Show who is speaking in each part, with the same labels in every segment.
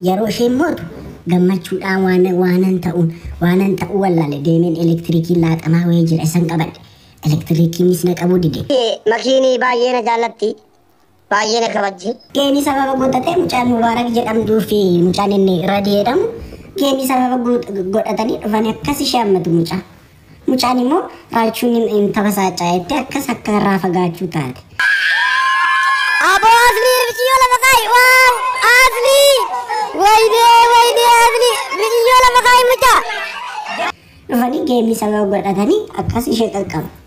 Speaker 1: Yeroo isheen mootu gammachuudhaan waan waanan ta'uun waanan ta'uu wallaale deemeen elektiriikiin laaxamaa wayii jira isan qabadhe elektiriikiinis na qabuu dide. Makiinii baay'ee
Speaker 2: na jaallatti. Baay'ee na kabajji. Geemii sababa godhatee
Speaker 1: mucaan Mubaarak jedhamduu fi mucaan inni Radi jedhamu geemii sababa guut- godhatanii dhufanii akkas ishee hammatu mucaa. Mucaan immoo raachuun hin- hin tabasaacaa jettee akkas akka irraa fagaachuu taate.
Speaker 2: Aboo Aslii riqiyyoo lafa kaayi waaw Aslii waydee waydee Aslii riqiyyoo lafa kaayi mucaa.
Speaker 1: Dhufanii geemii sababa godhatanii akkas ishee qaqqabu.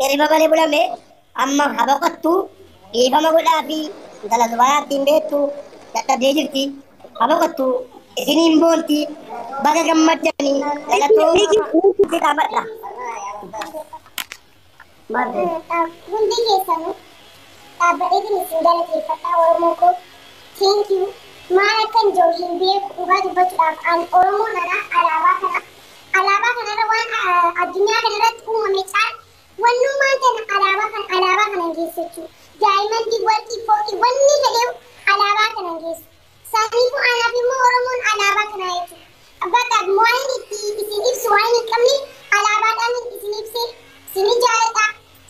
Speaker 2: Hirriba malee bulame amma ha boqottu dhiifama godhaafi intala zubaayaatti hin beektu dadhabdee jirti ha boqottu isiniin boonti baga gammaddani galatoomaa si dhaabadha. Hundi keessanuu dhaabbateetiin
Speaker 3: isin galateeffadha Oromoo koo. Thank you. Maal akkan jiru hin beeku dhugaa dubbachuudhaaf ani Oromoo kana alaabaa kana Alaabaa kana irra waan addunyaa kana irratti uumame caal wannummaan tana alaabaa kana alaabaa kanan geessu jechuudha. Daayimandii, warqii, fooqii wanni fedheewu alaabaa kanan geessu. Saniifu anaaf immoo Oromoon alaabaa kanaa jechuudha. Bakka waan inni itti isin ibsu waan hin qabne alaabaadhaan isin ibse sini jaaladha.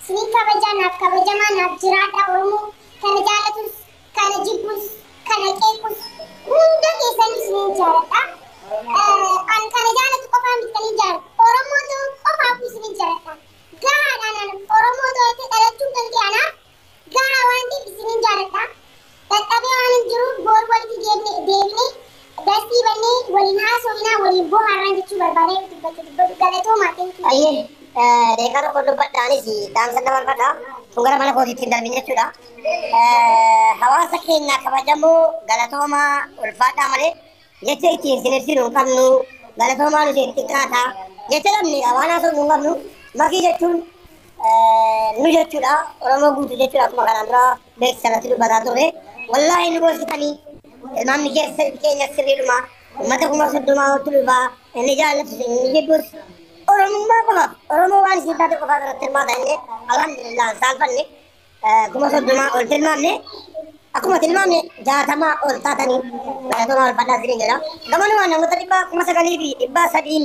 Speaker 3: Sini kabajaa naaf kabajamaa naaf jiraadha Oromoo kana jaalatus Kana jibbus, kana qeequs hunda keessanuu isiniin jaaladha. An kana jaalatu qofaa miti kan hin jaalatu. Oromoo ta'uu qofaafuu isiniin jaaladha. Gahaadha anaan Oromoo ta'ee dhalachuun kan kee anaaf gahaa waan ta'eef isiniin jaaladha. Dadhabee waan hin jiruuf boor walitti deebinee Dastii bannee waliin haasoofnaa waliin bohaarraan jechuu barbaadee dubbachuu dubbadhu galatoomaa thank you. Ayyee daqiiqaa tokko
Speaker 2: dubbadha anis dhaamsa dabarfadha kun gara mana kootiitti hin darbin jechuudha. Hawaasa keenya kabajamoo galatoomaa ulfaadhaa malee jecha ittiin isin ibsinu hin qabnu galatoomaa nuti hin xiqqaata jecha dhabne waan haasofnu hin qabnu makii jechuun nu jechuudha oromoo guutuu jechuudha akkuma kanaan dura Beeksisa irratti dubbataa turre. Wallaahi nu gorsitanii ilmaamni keessa keenya sirriidhuma uummata kuma soddomaa oltu dhufaa inni jaallatus inni jibbus Oromummaa qofaaf Oromoo waan isin taate qofaaf irratti hirmaata inni alhamdulillah saalfanne kuma soddomaa ol tilmaamne akkuma tilmaamne jaatamaa ol taatanii galatoomaa ulfaadhaa isiniin jedha. Gamanumaan namoota dhibbaa kuma sagalii fi dhibbaa sadiin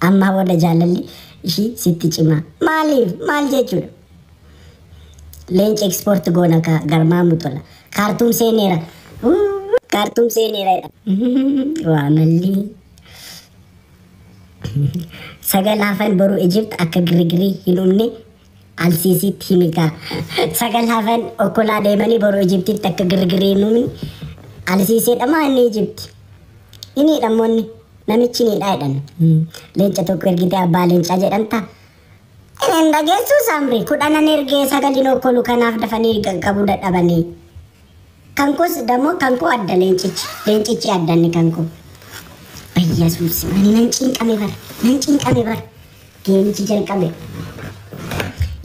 Speaker 1: Ammaa booda jaalalli ishii sitti cimaa. Maaliif? Maal jechuudha? Leenci ekspoorti goona kaa garmaamu tola. Kaartuum seeneera. Uuu, Kaartuum seeneera jedha. Waa mallii. Sagal hafan boru Ijipt akka girgirii hin uumne Alsiisiitti himi kaa. Sagal hafan okkolaa deemanii boru Ijiptiitti akka girgirii hin uumin. Alsiiseedha maa inni Ijipti? Inni dhammoonni namichi inni dhaa jedhan. Leenca tokko ergitee abbaa leencaa jedhan ta'a. Hin dhageessuu saamri kudhanan ergee sagalin okkolu kanaaf dafanii qaqqabuu dadhabanii. Kankos damo kanko adda leencichi leencichi adda inni kanko. Bayyasuus ani nan cinqame bar nan cinqame bar geemichi jalqabe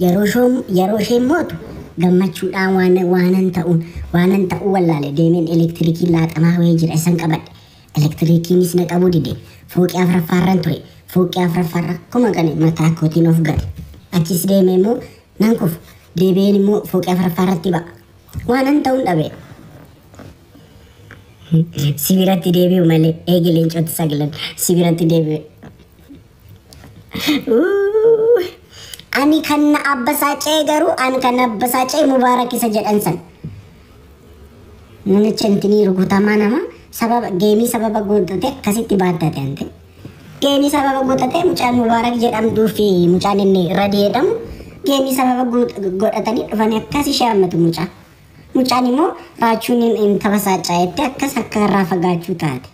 Speaker 1: yeroo shoom yeroo isheen mootu gammachuudhaan waan waanan ta'uun waanan ta'uu wallaale deemeen elektirikii laaxamaa wayii jira isan qabadhe elektirikiinis na qabuu dide fooqii afraffaarran ture fooqii afraffaarra kuma gane mataa kootiin of gate achis deemee immoo nan kufu deebi'een immoo fooqii afraffaarratti ba'a Waanan ta'uun dhabe. Si biratti deebi'u malee eegi leencoti saglan si biratti deebi'e. Uuu, Ani kan na abbasaacee garuu ani kan na abbasaacee mubaarak isa jedhan san. Namicha intinii rukutamaa nama sababa geemii sababa guutate akkasitti baattate ante. Geemii sababa godhatee mucaan Mubaarak jedhamduu fi mucaan inni Radi jedhamu geemii sababa godhatanii dhufanii akkas ishee hammatu mucaa. Mucaan immoo raachuun hin tabasaacaa jettee akkas akka irraa fagaachuu taate.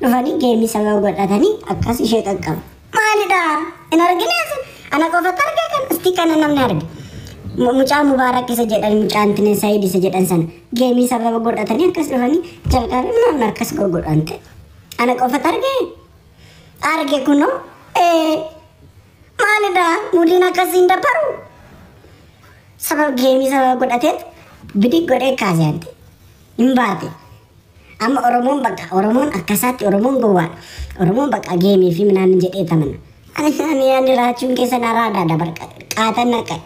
Speaker 1: Dhufanii geemii sababa godhatanii akkas ishee qaqqabu. Maalidha? Hin argine asi? Ana qofatu arge kan isti kana namni arge. Mucaa Mubaarak isa jedhan mucaan Tinee Saayid isa jedhan sana geemii sababa godhatanii akkas dhufanii jalqabe maamna akkas godhan ta'e. Ana qofat arge? Arge kuno. Ee maalidha mudiin akkasiin dabbaru? Sabab geemii sababa godhateet bidig godhee kaasee ante. Hin baate. Amma Oromoon bakka Oromoon akkasaatti Oromoon gowwaadha. Oromoon bakka geemii fi minaan jedhee tamana. Ani ani raachuun keessan araada dabar qaatan naqqa'e.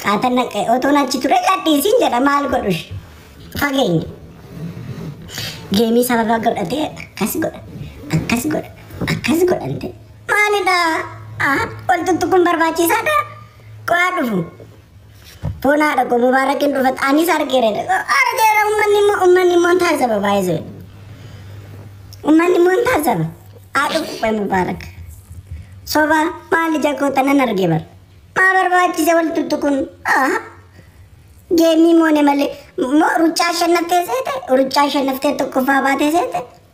Speaker 1: Qaatan naqqa'e otoon achi ture gadhiisiin jedha maal godhush fageenya. Geemii sababa godhatee akkas godha akkas godha akkas godhante maalidha? Ol tuttuquun barbaachisaadha? Qo'aa dhufu. Foon haadha koo Mubaarak hin dhufat anis argeera argeera ummanni immoo ummanni immoo hin taasisa baay'ee ummanni immoo hin taasisa haa dhufu qoy Mubaarak soba maal ija koo tanan arge bar maa barbaachise wal tuttu kun geemii moone malee ruccaa shannaftee seete ruccaa shannaftee tokkoffaa baatee seete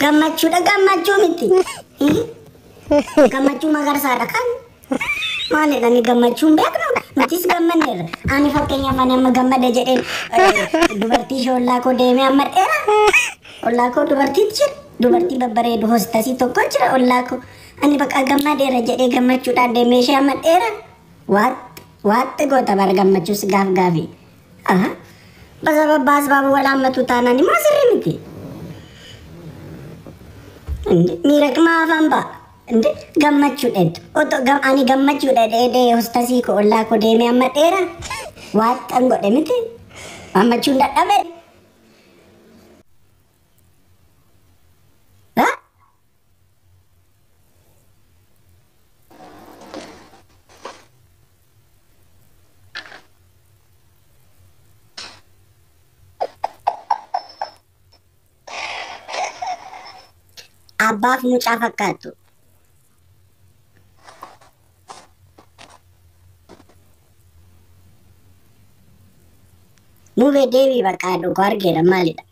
Speaker 4: Gammachuudha
Speaker 1: gammachuu miti. Gammachuu magarsaadha kan maalidha ni gammachuu hin beeknu nutis gammanneerra. Ani fakkeenyaaf ani amma gammade jedhee eh, dubartii ishee ollaa koo deemee amma dheera. Ollaa koo dubartiin jira. Dubartii babbareedu hoositasii tokko jira ollaa koo. Ani bakka gammadeera jedhee gammachuudhaan deemee ishee amma dheera. Waaxxi waaxxi goota bara gammachuus gaaf gaafii. Aha. Basa babbaa asbaaba wal haammatuu taanaan immoo sirrii miti. Indi miidhagmaa afaan ba'a. Indi gammachuu dheetu. Otoo gam ani gammachuu dhedhee dhee hostasii koo ollaa koo deemee amma dheera. Waaxxan godhe miti. Gammachuun dadhabe. Abbaaf mucaa fakkaattu. Mube deebii bakka dhugaa argeera maalidha?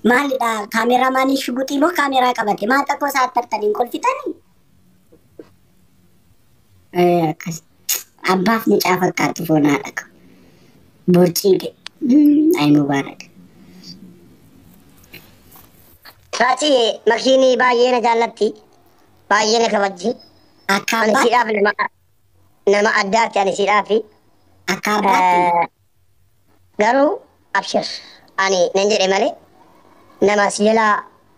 Speaker 1: Maalidha kaameraa maaliin shuguxii moo kaameraa qabate maal xaqqoo isaa attartaniin kolfitanii? Eh, akkas abbaaf mucaa fakkaatu foonaa dhaqa. Borcii ga'e. Ayi mubaarak.
Speaker 2: Taati makiinii baay'ee na jaallatti. Baay'ee na kabajji. Akka Ani abbaa
Speaker 1: siidhaaf lama
Speaker 2: nama addaati ani siidhaafi Akka
Speaker 1: abbaatti Eh,
Speaker 2: garuu abshir ani nan jedhe malee nama si jalaa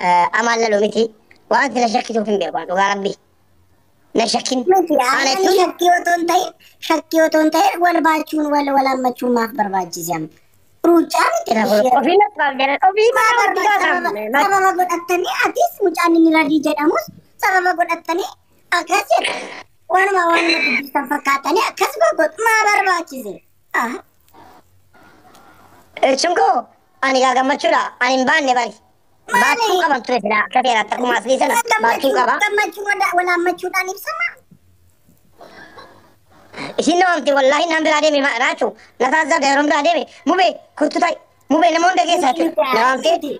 Speaker 2: eh, amaan lalu miti wanti na shakkisuuf hin beeku ani dhugaa rabbi na shakkin miti ana aannan jechuun
Speaker 1: shakkii
Speaker 2: otoo hin
Speaker 1: ta'in
Speaker 2: shakkii otoo hin
Speaker 1: ta'in wal baachuun wal wal hammachuun maaf barbaachise amma ruucaa miti na kun ishee ofii natti baaf
Speaker 2: jedhan ofii maa maaf barbaachisa barbaada
Speaker 1: sababa sababa godhattanii atis mucaan inni radii jedhamus sababa godhattanii Akkas jedha. Waanuma waanuma dubbistan fakkaatanii akkas goggodhu maa barbaachise?
Speaker 2: Ah, Hirchuun koo ani gaa gammachuudha. Ani hin baanne bari. Baachuu qaban ture silaa akka seeraa akkuma asii sana baachuu qaba. gammachuu wada-
Speaker 1: walaammachuudhaan ibsama.
Speaker 2: Ishiin na waamte wallaahi naan biraa deeme ma- raachuu na taasisaa yeroon biraa deeme mubee kottu ta'i mubee nama hunda keessaa jechuudha. Na waamte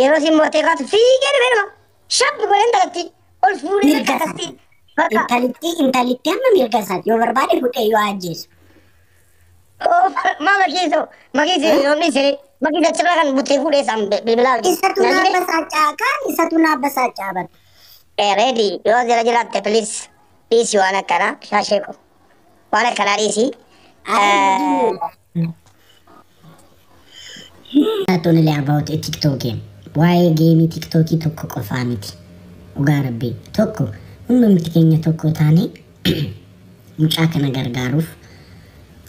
Speaker 2: Yeroo siin mootee kaatu fiigee dhufee nama shabbi godhee intalattii ol fuudhee Mirga bakka akkasii. isaati. Bakka Intalittii
Speaker 1: intalittii amma mirga isaati. Yoo barbaade fudhee yoo ajjeesu. oofa
Speaker 2: maa makiisoo makiisee yoo dhiisee makiisee achirraa kan butee fuudhee isaan bilbilaa hojii. Isatu naa Nagidee
Speaker 1: basaacaa kaan isatu naa basaacaa bar. reedi
Speaker 2: yoo jira jiraatte piliis dhiisi waan akkanaa shaashee koo waan akkanaa dhiisi. Ayi Eh, hojii miidhaa.
Speaker 1: Not only about a TikTok game. Waa'ee geemii TikTokii tokko qofaa miti. Dhugaa rabbii tokko hundumti keenya tokko taanee mucaa kana gargaaruuf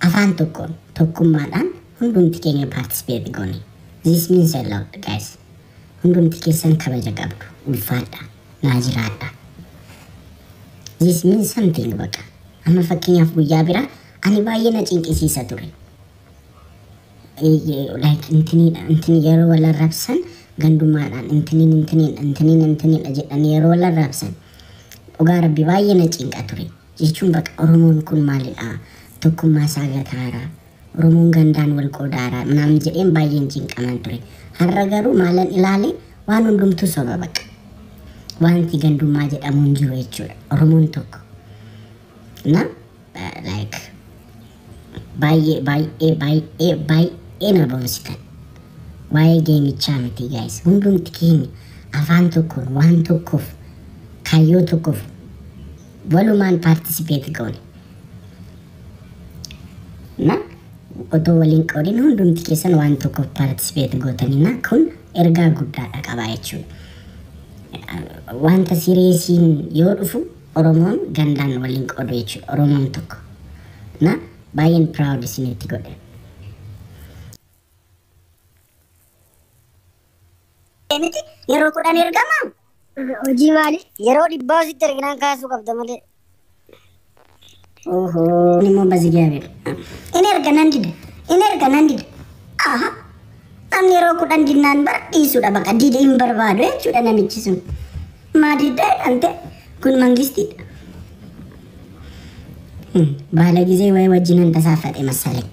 Speaker 1: afaan tokkoon tokkummaadhaan hundumti keenya paartisipeeti goone. This means a lot guys. Hundumti keessan kabaja qabdu. Ulfaadha. Naa jiraadha. This means something baqa. Amma fakkeenyaaf guyyaa biraa Ani baay'ee na cinqisiisa ture. Eeyyee, like intiniidha intini yeroo wal arrabsan gandummaadhaan intiniin intiniidha intiniin intiniidha jedhanii yeroo wal arrabsan dhugaa rabbi baay'ee na cinqa ture. Jechuun baqa Oromoon kun maalidha? Tokkummaa isaa gataara. Oromoon gandaan wal qoodaara. Naamni jedheen baay'een cinqaman ture. Har'a garuu maalan ilaale waan hundumtuu soba baqa. Wanti gandummaa jedhamu hin jiru jechuudha. Oromoon tokko. እና ላይክ baay'ee baay'ee baay'ee baay'ee na boonsitan waa'ee geemichaa miti gaayis hundumti keenya afaan tokkoon waan tokkoof kaayyoo tokkoof walumaan paartisipeeti goone na otoo waliin qoodin hundumti keessan waan tokkoof paartisipeeti gootanii na kun ergaa guddaadha qabaa jechuudha wanta sireesiin yoo dhufu Oromoon gandaan wal hin qoodu jechuudha oromoon tokko na baay'een proud isinitti godhe. miti yeroo kudhan ergama Hojii
Speaker 3: maali? yeroo dhibbaa sitti erginaan kaasuu qabda malee.
Speaker 1: Oho nimo bazigaabir. In erga nan dida. In erga nan dida. Aha. Namni yeroo kudhan dinnaan bara dhiisudha baqa dide hin barbaadu jechuudha namichi sun. Maa diddaa jedhamte kun mangistiidha. Hmm, Baala gizee wayii wajjin handa saafate masalee.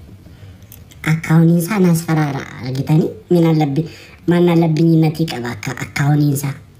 Speaker 1: Akkaawuniin isaa naas faraara argitanii minaan labbi maannaan labbiin innatii qaba akka akkaawuniin isaa.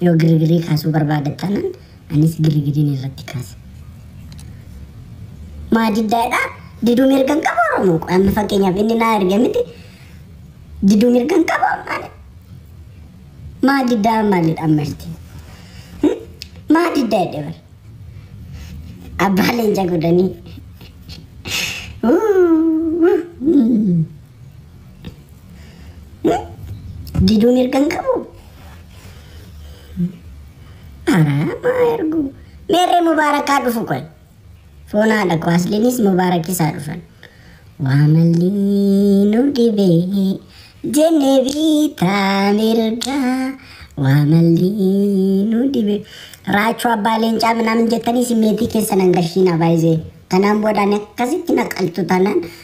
Speaker 1: Yoo girgirii kaasuu barbaadda taanaan anis girgiriin irratti kaasa. Maa diddaadha? Diduu mirga hin qabu Oromoo koo. Amma fakkeenyaaf inni naa erge miti. Diduu mirga hin qabu ammaale. Maa diddaa maaliidha amma irti? Maa diddaa jedhe bara. Abbaa leenca godhanii. Wuu, wuu, mm. Diduu mirga hin qabu. Maa ergu. Meerree mubaarakaa dhufu qoy. Foon haadha koo asliinis mubaarakisaa dhufan. Waa malli nu dhibe jenne biitaa mirga. Waa malli nu dhibe. Raachuu abbaa leencaa minaamin jettanii simmeetii keessan hangashiina baay'ee. Kanaan boodaan akkasitti naqaltu tanan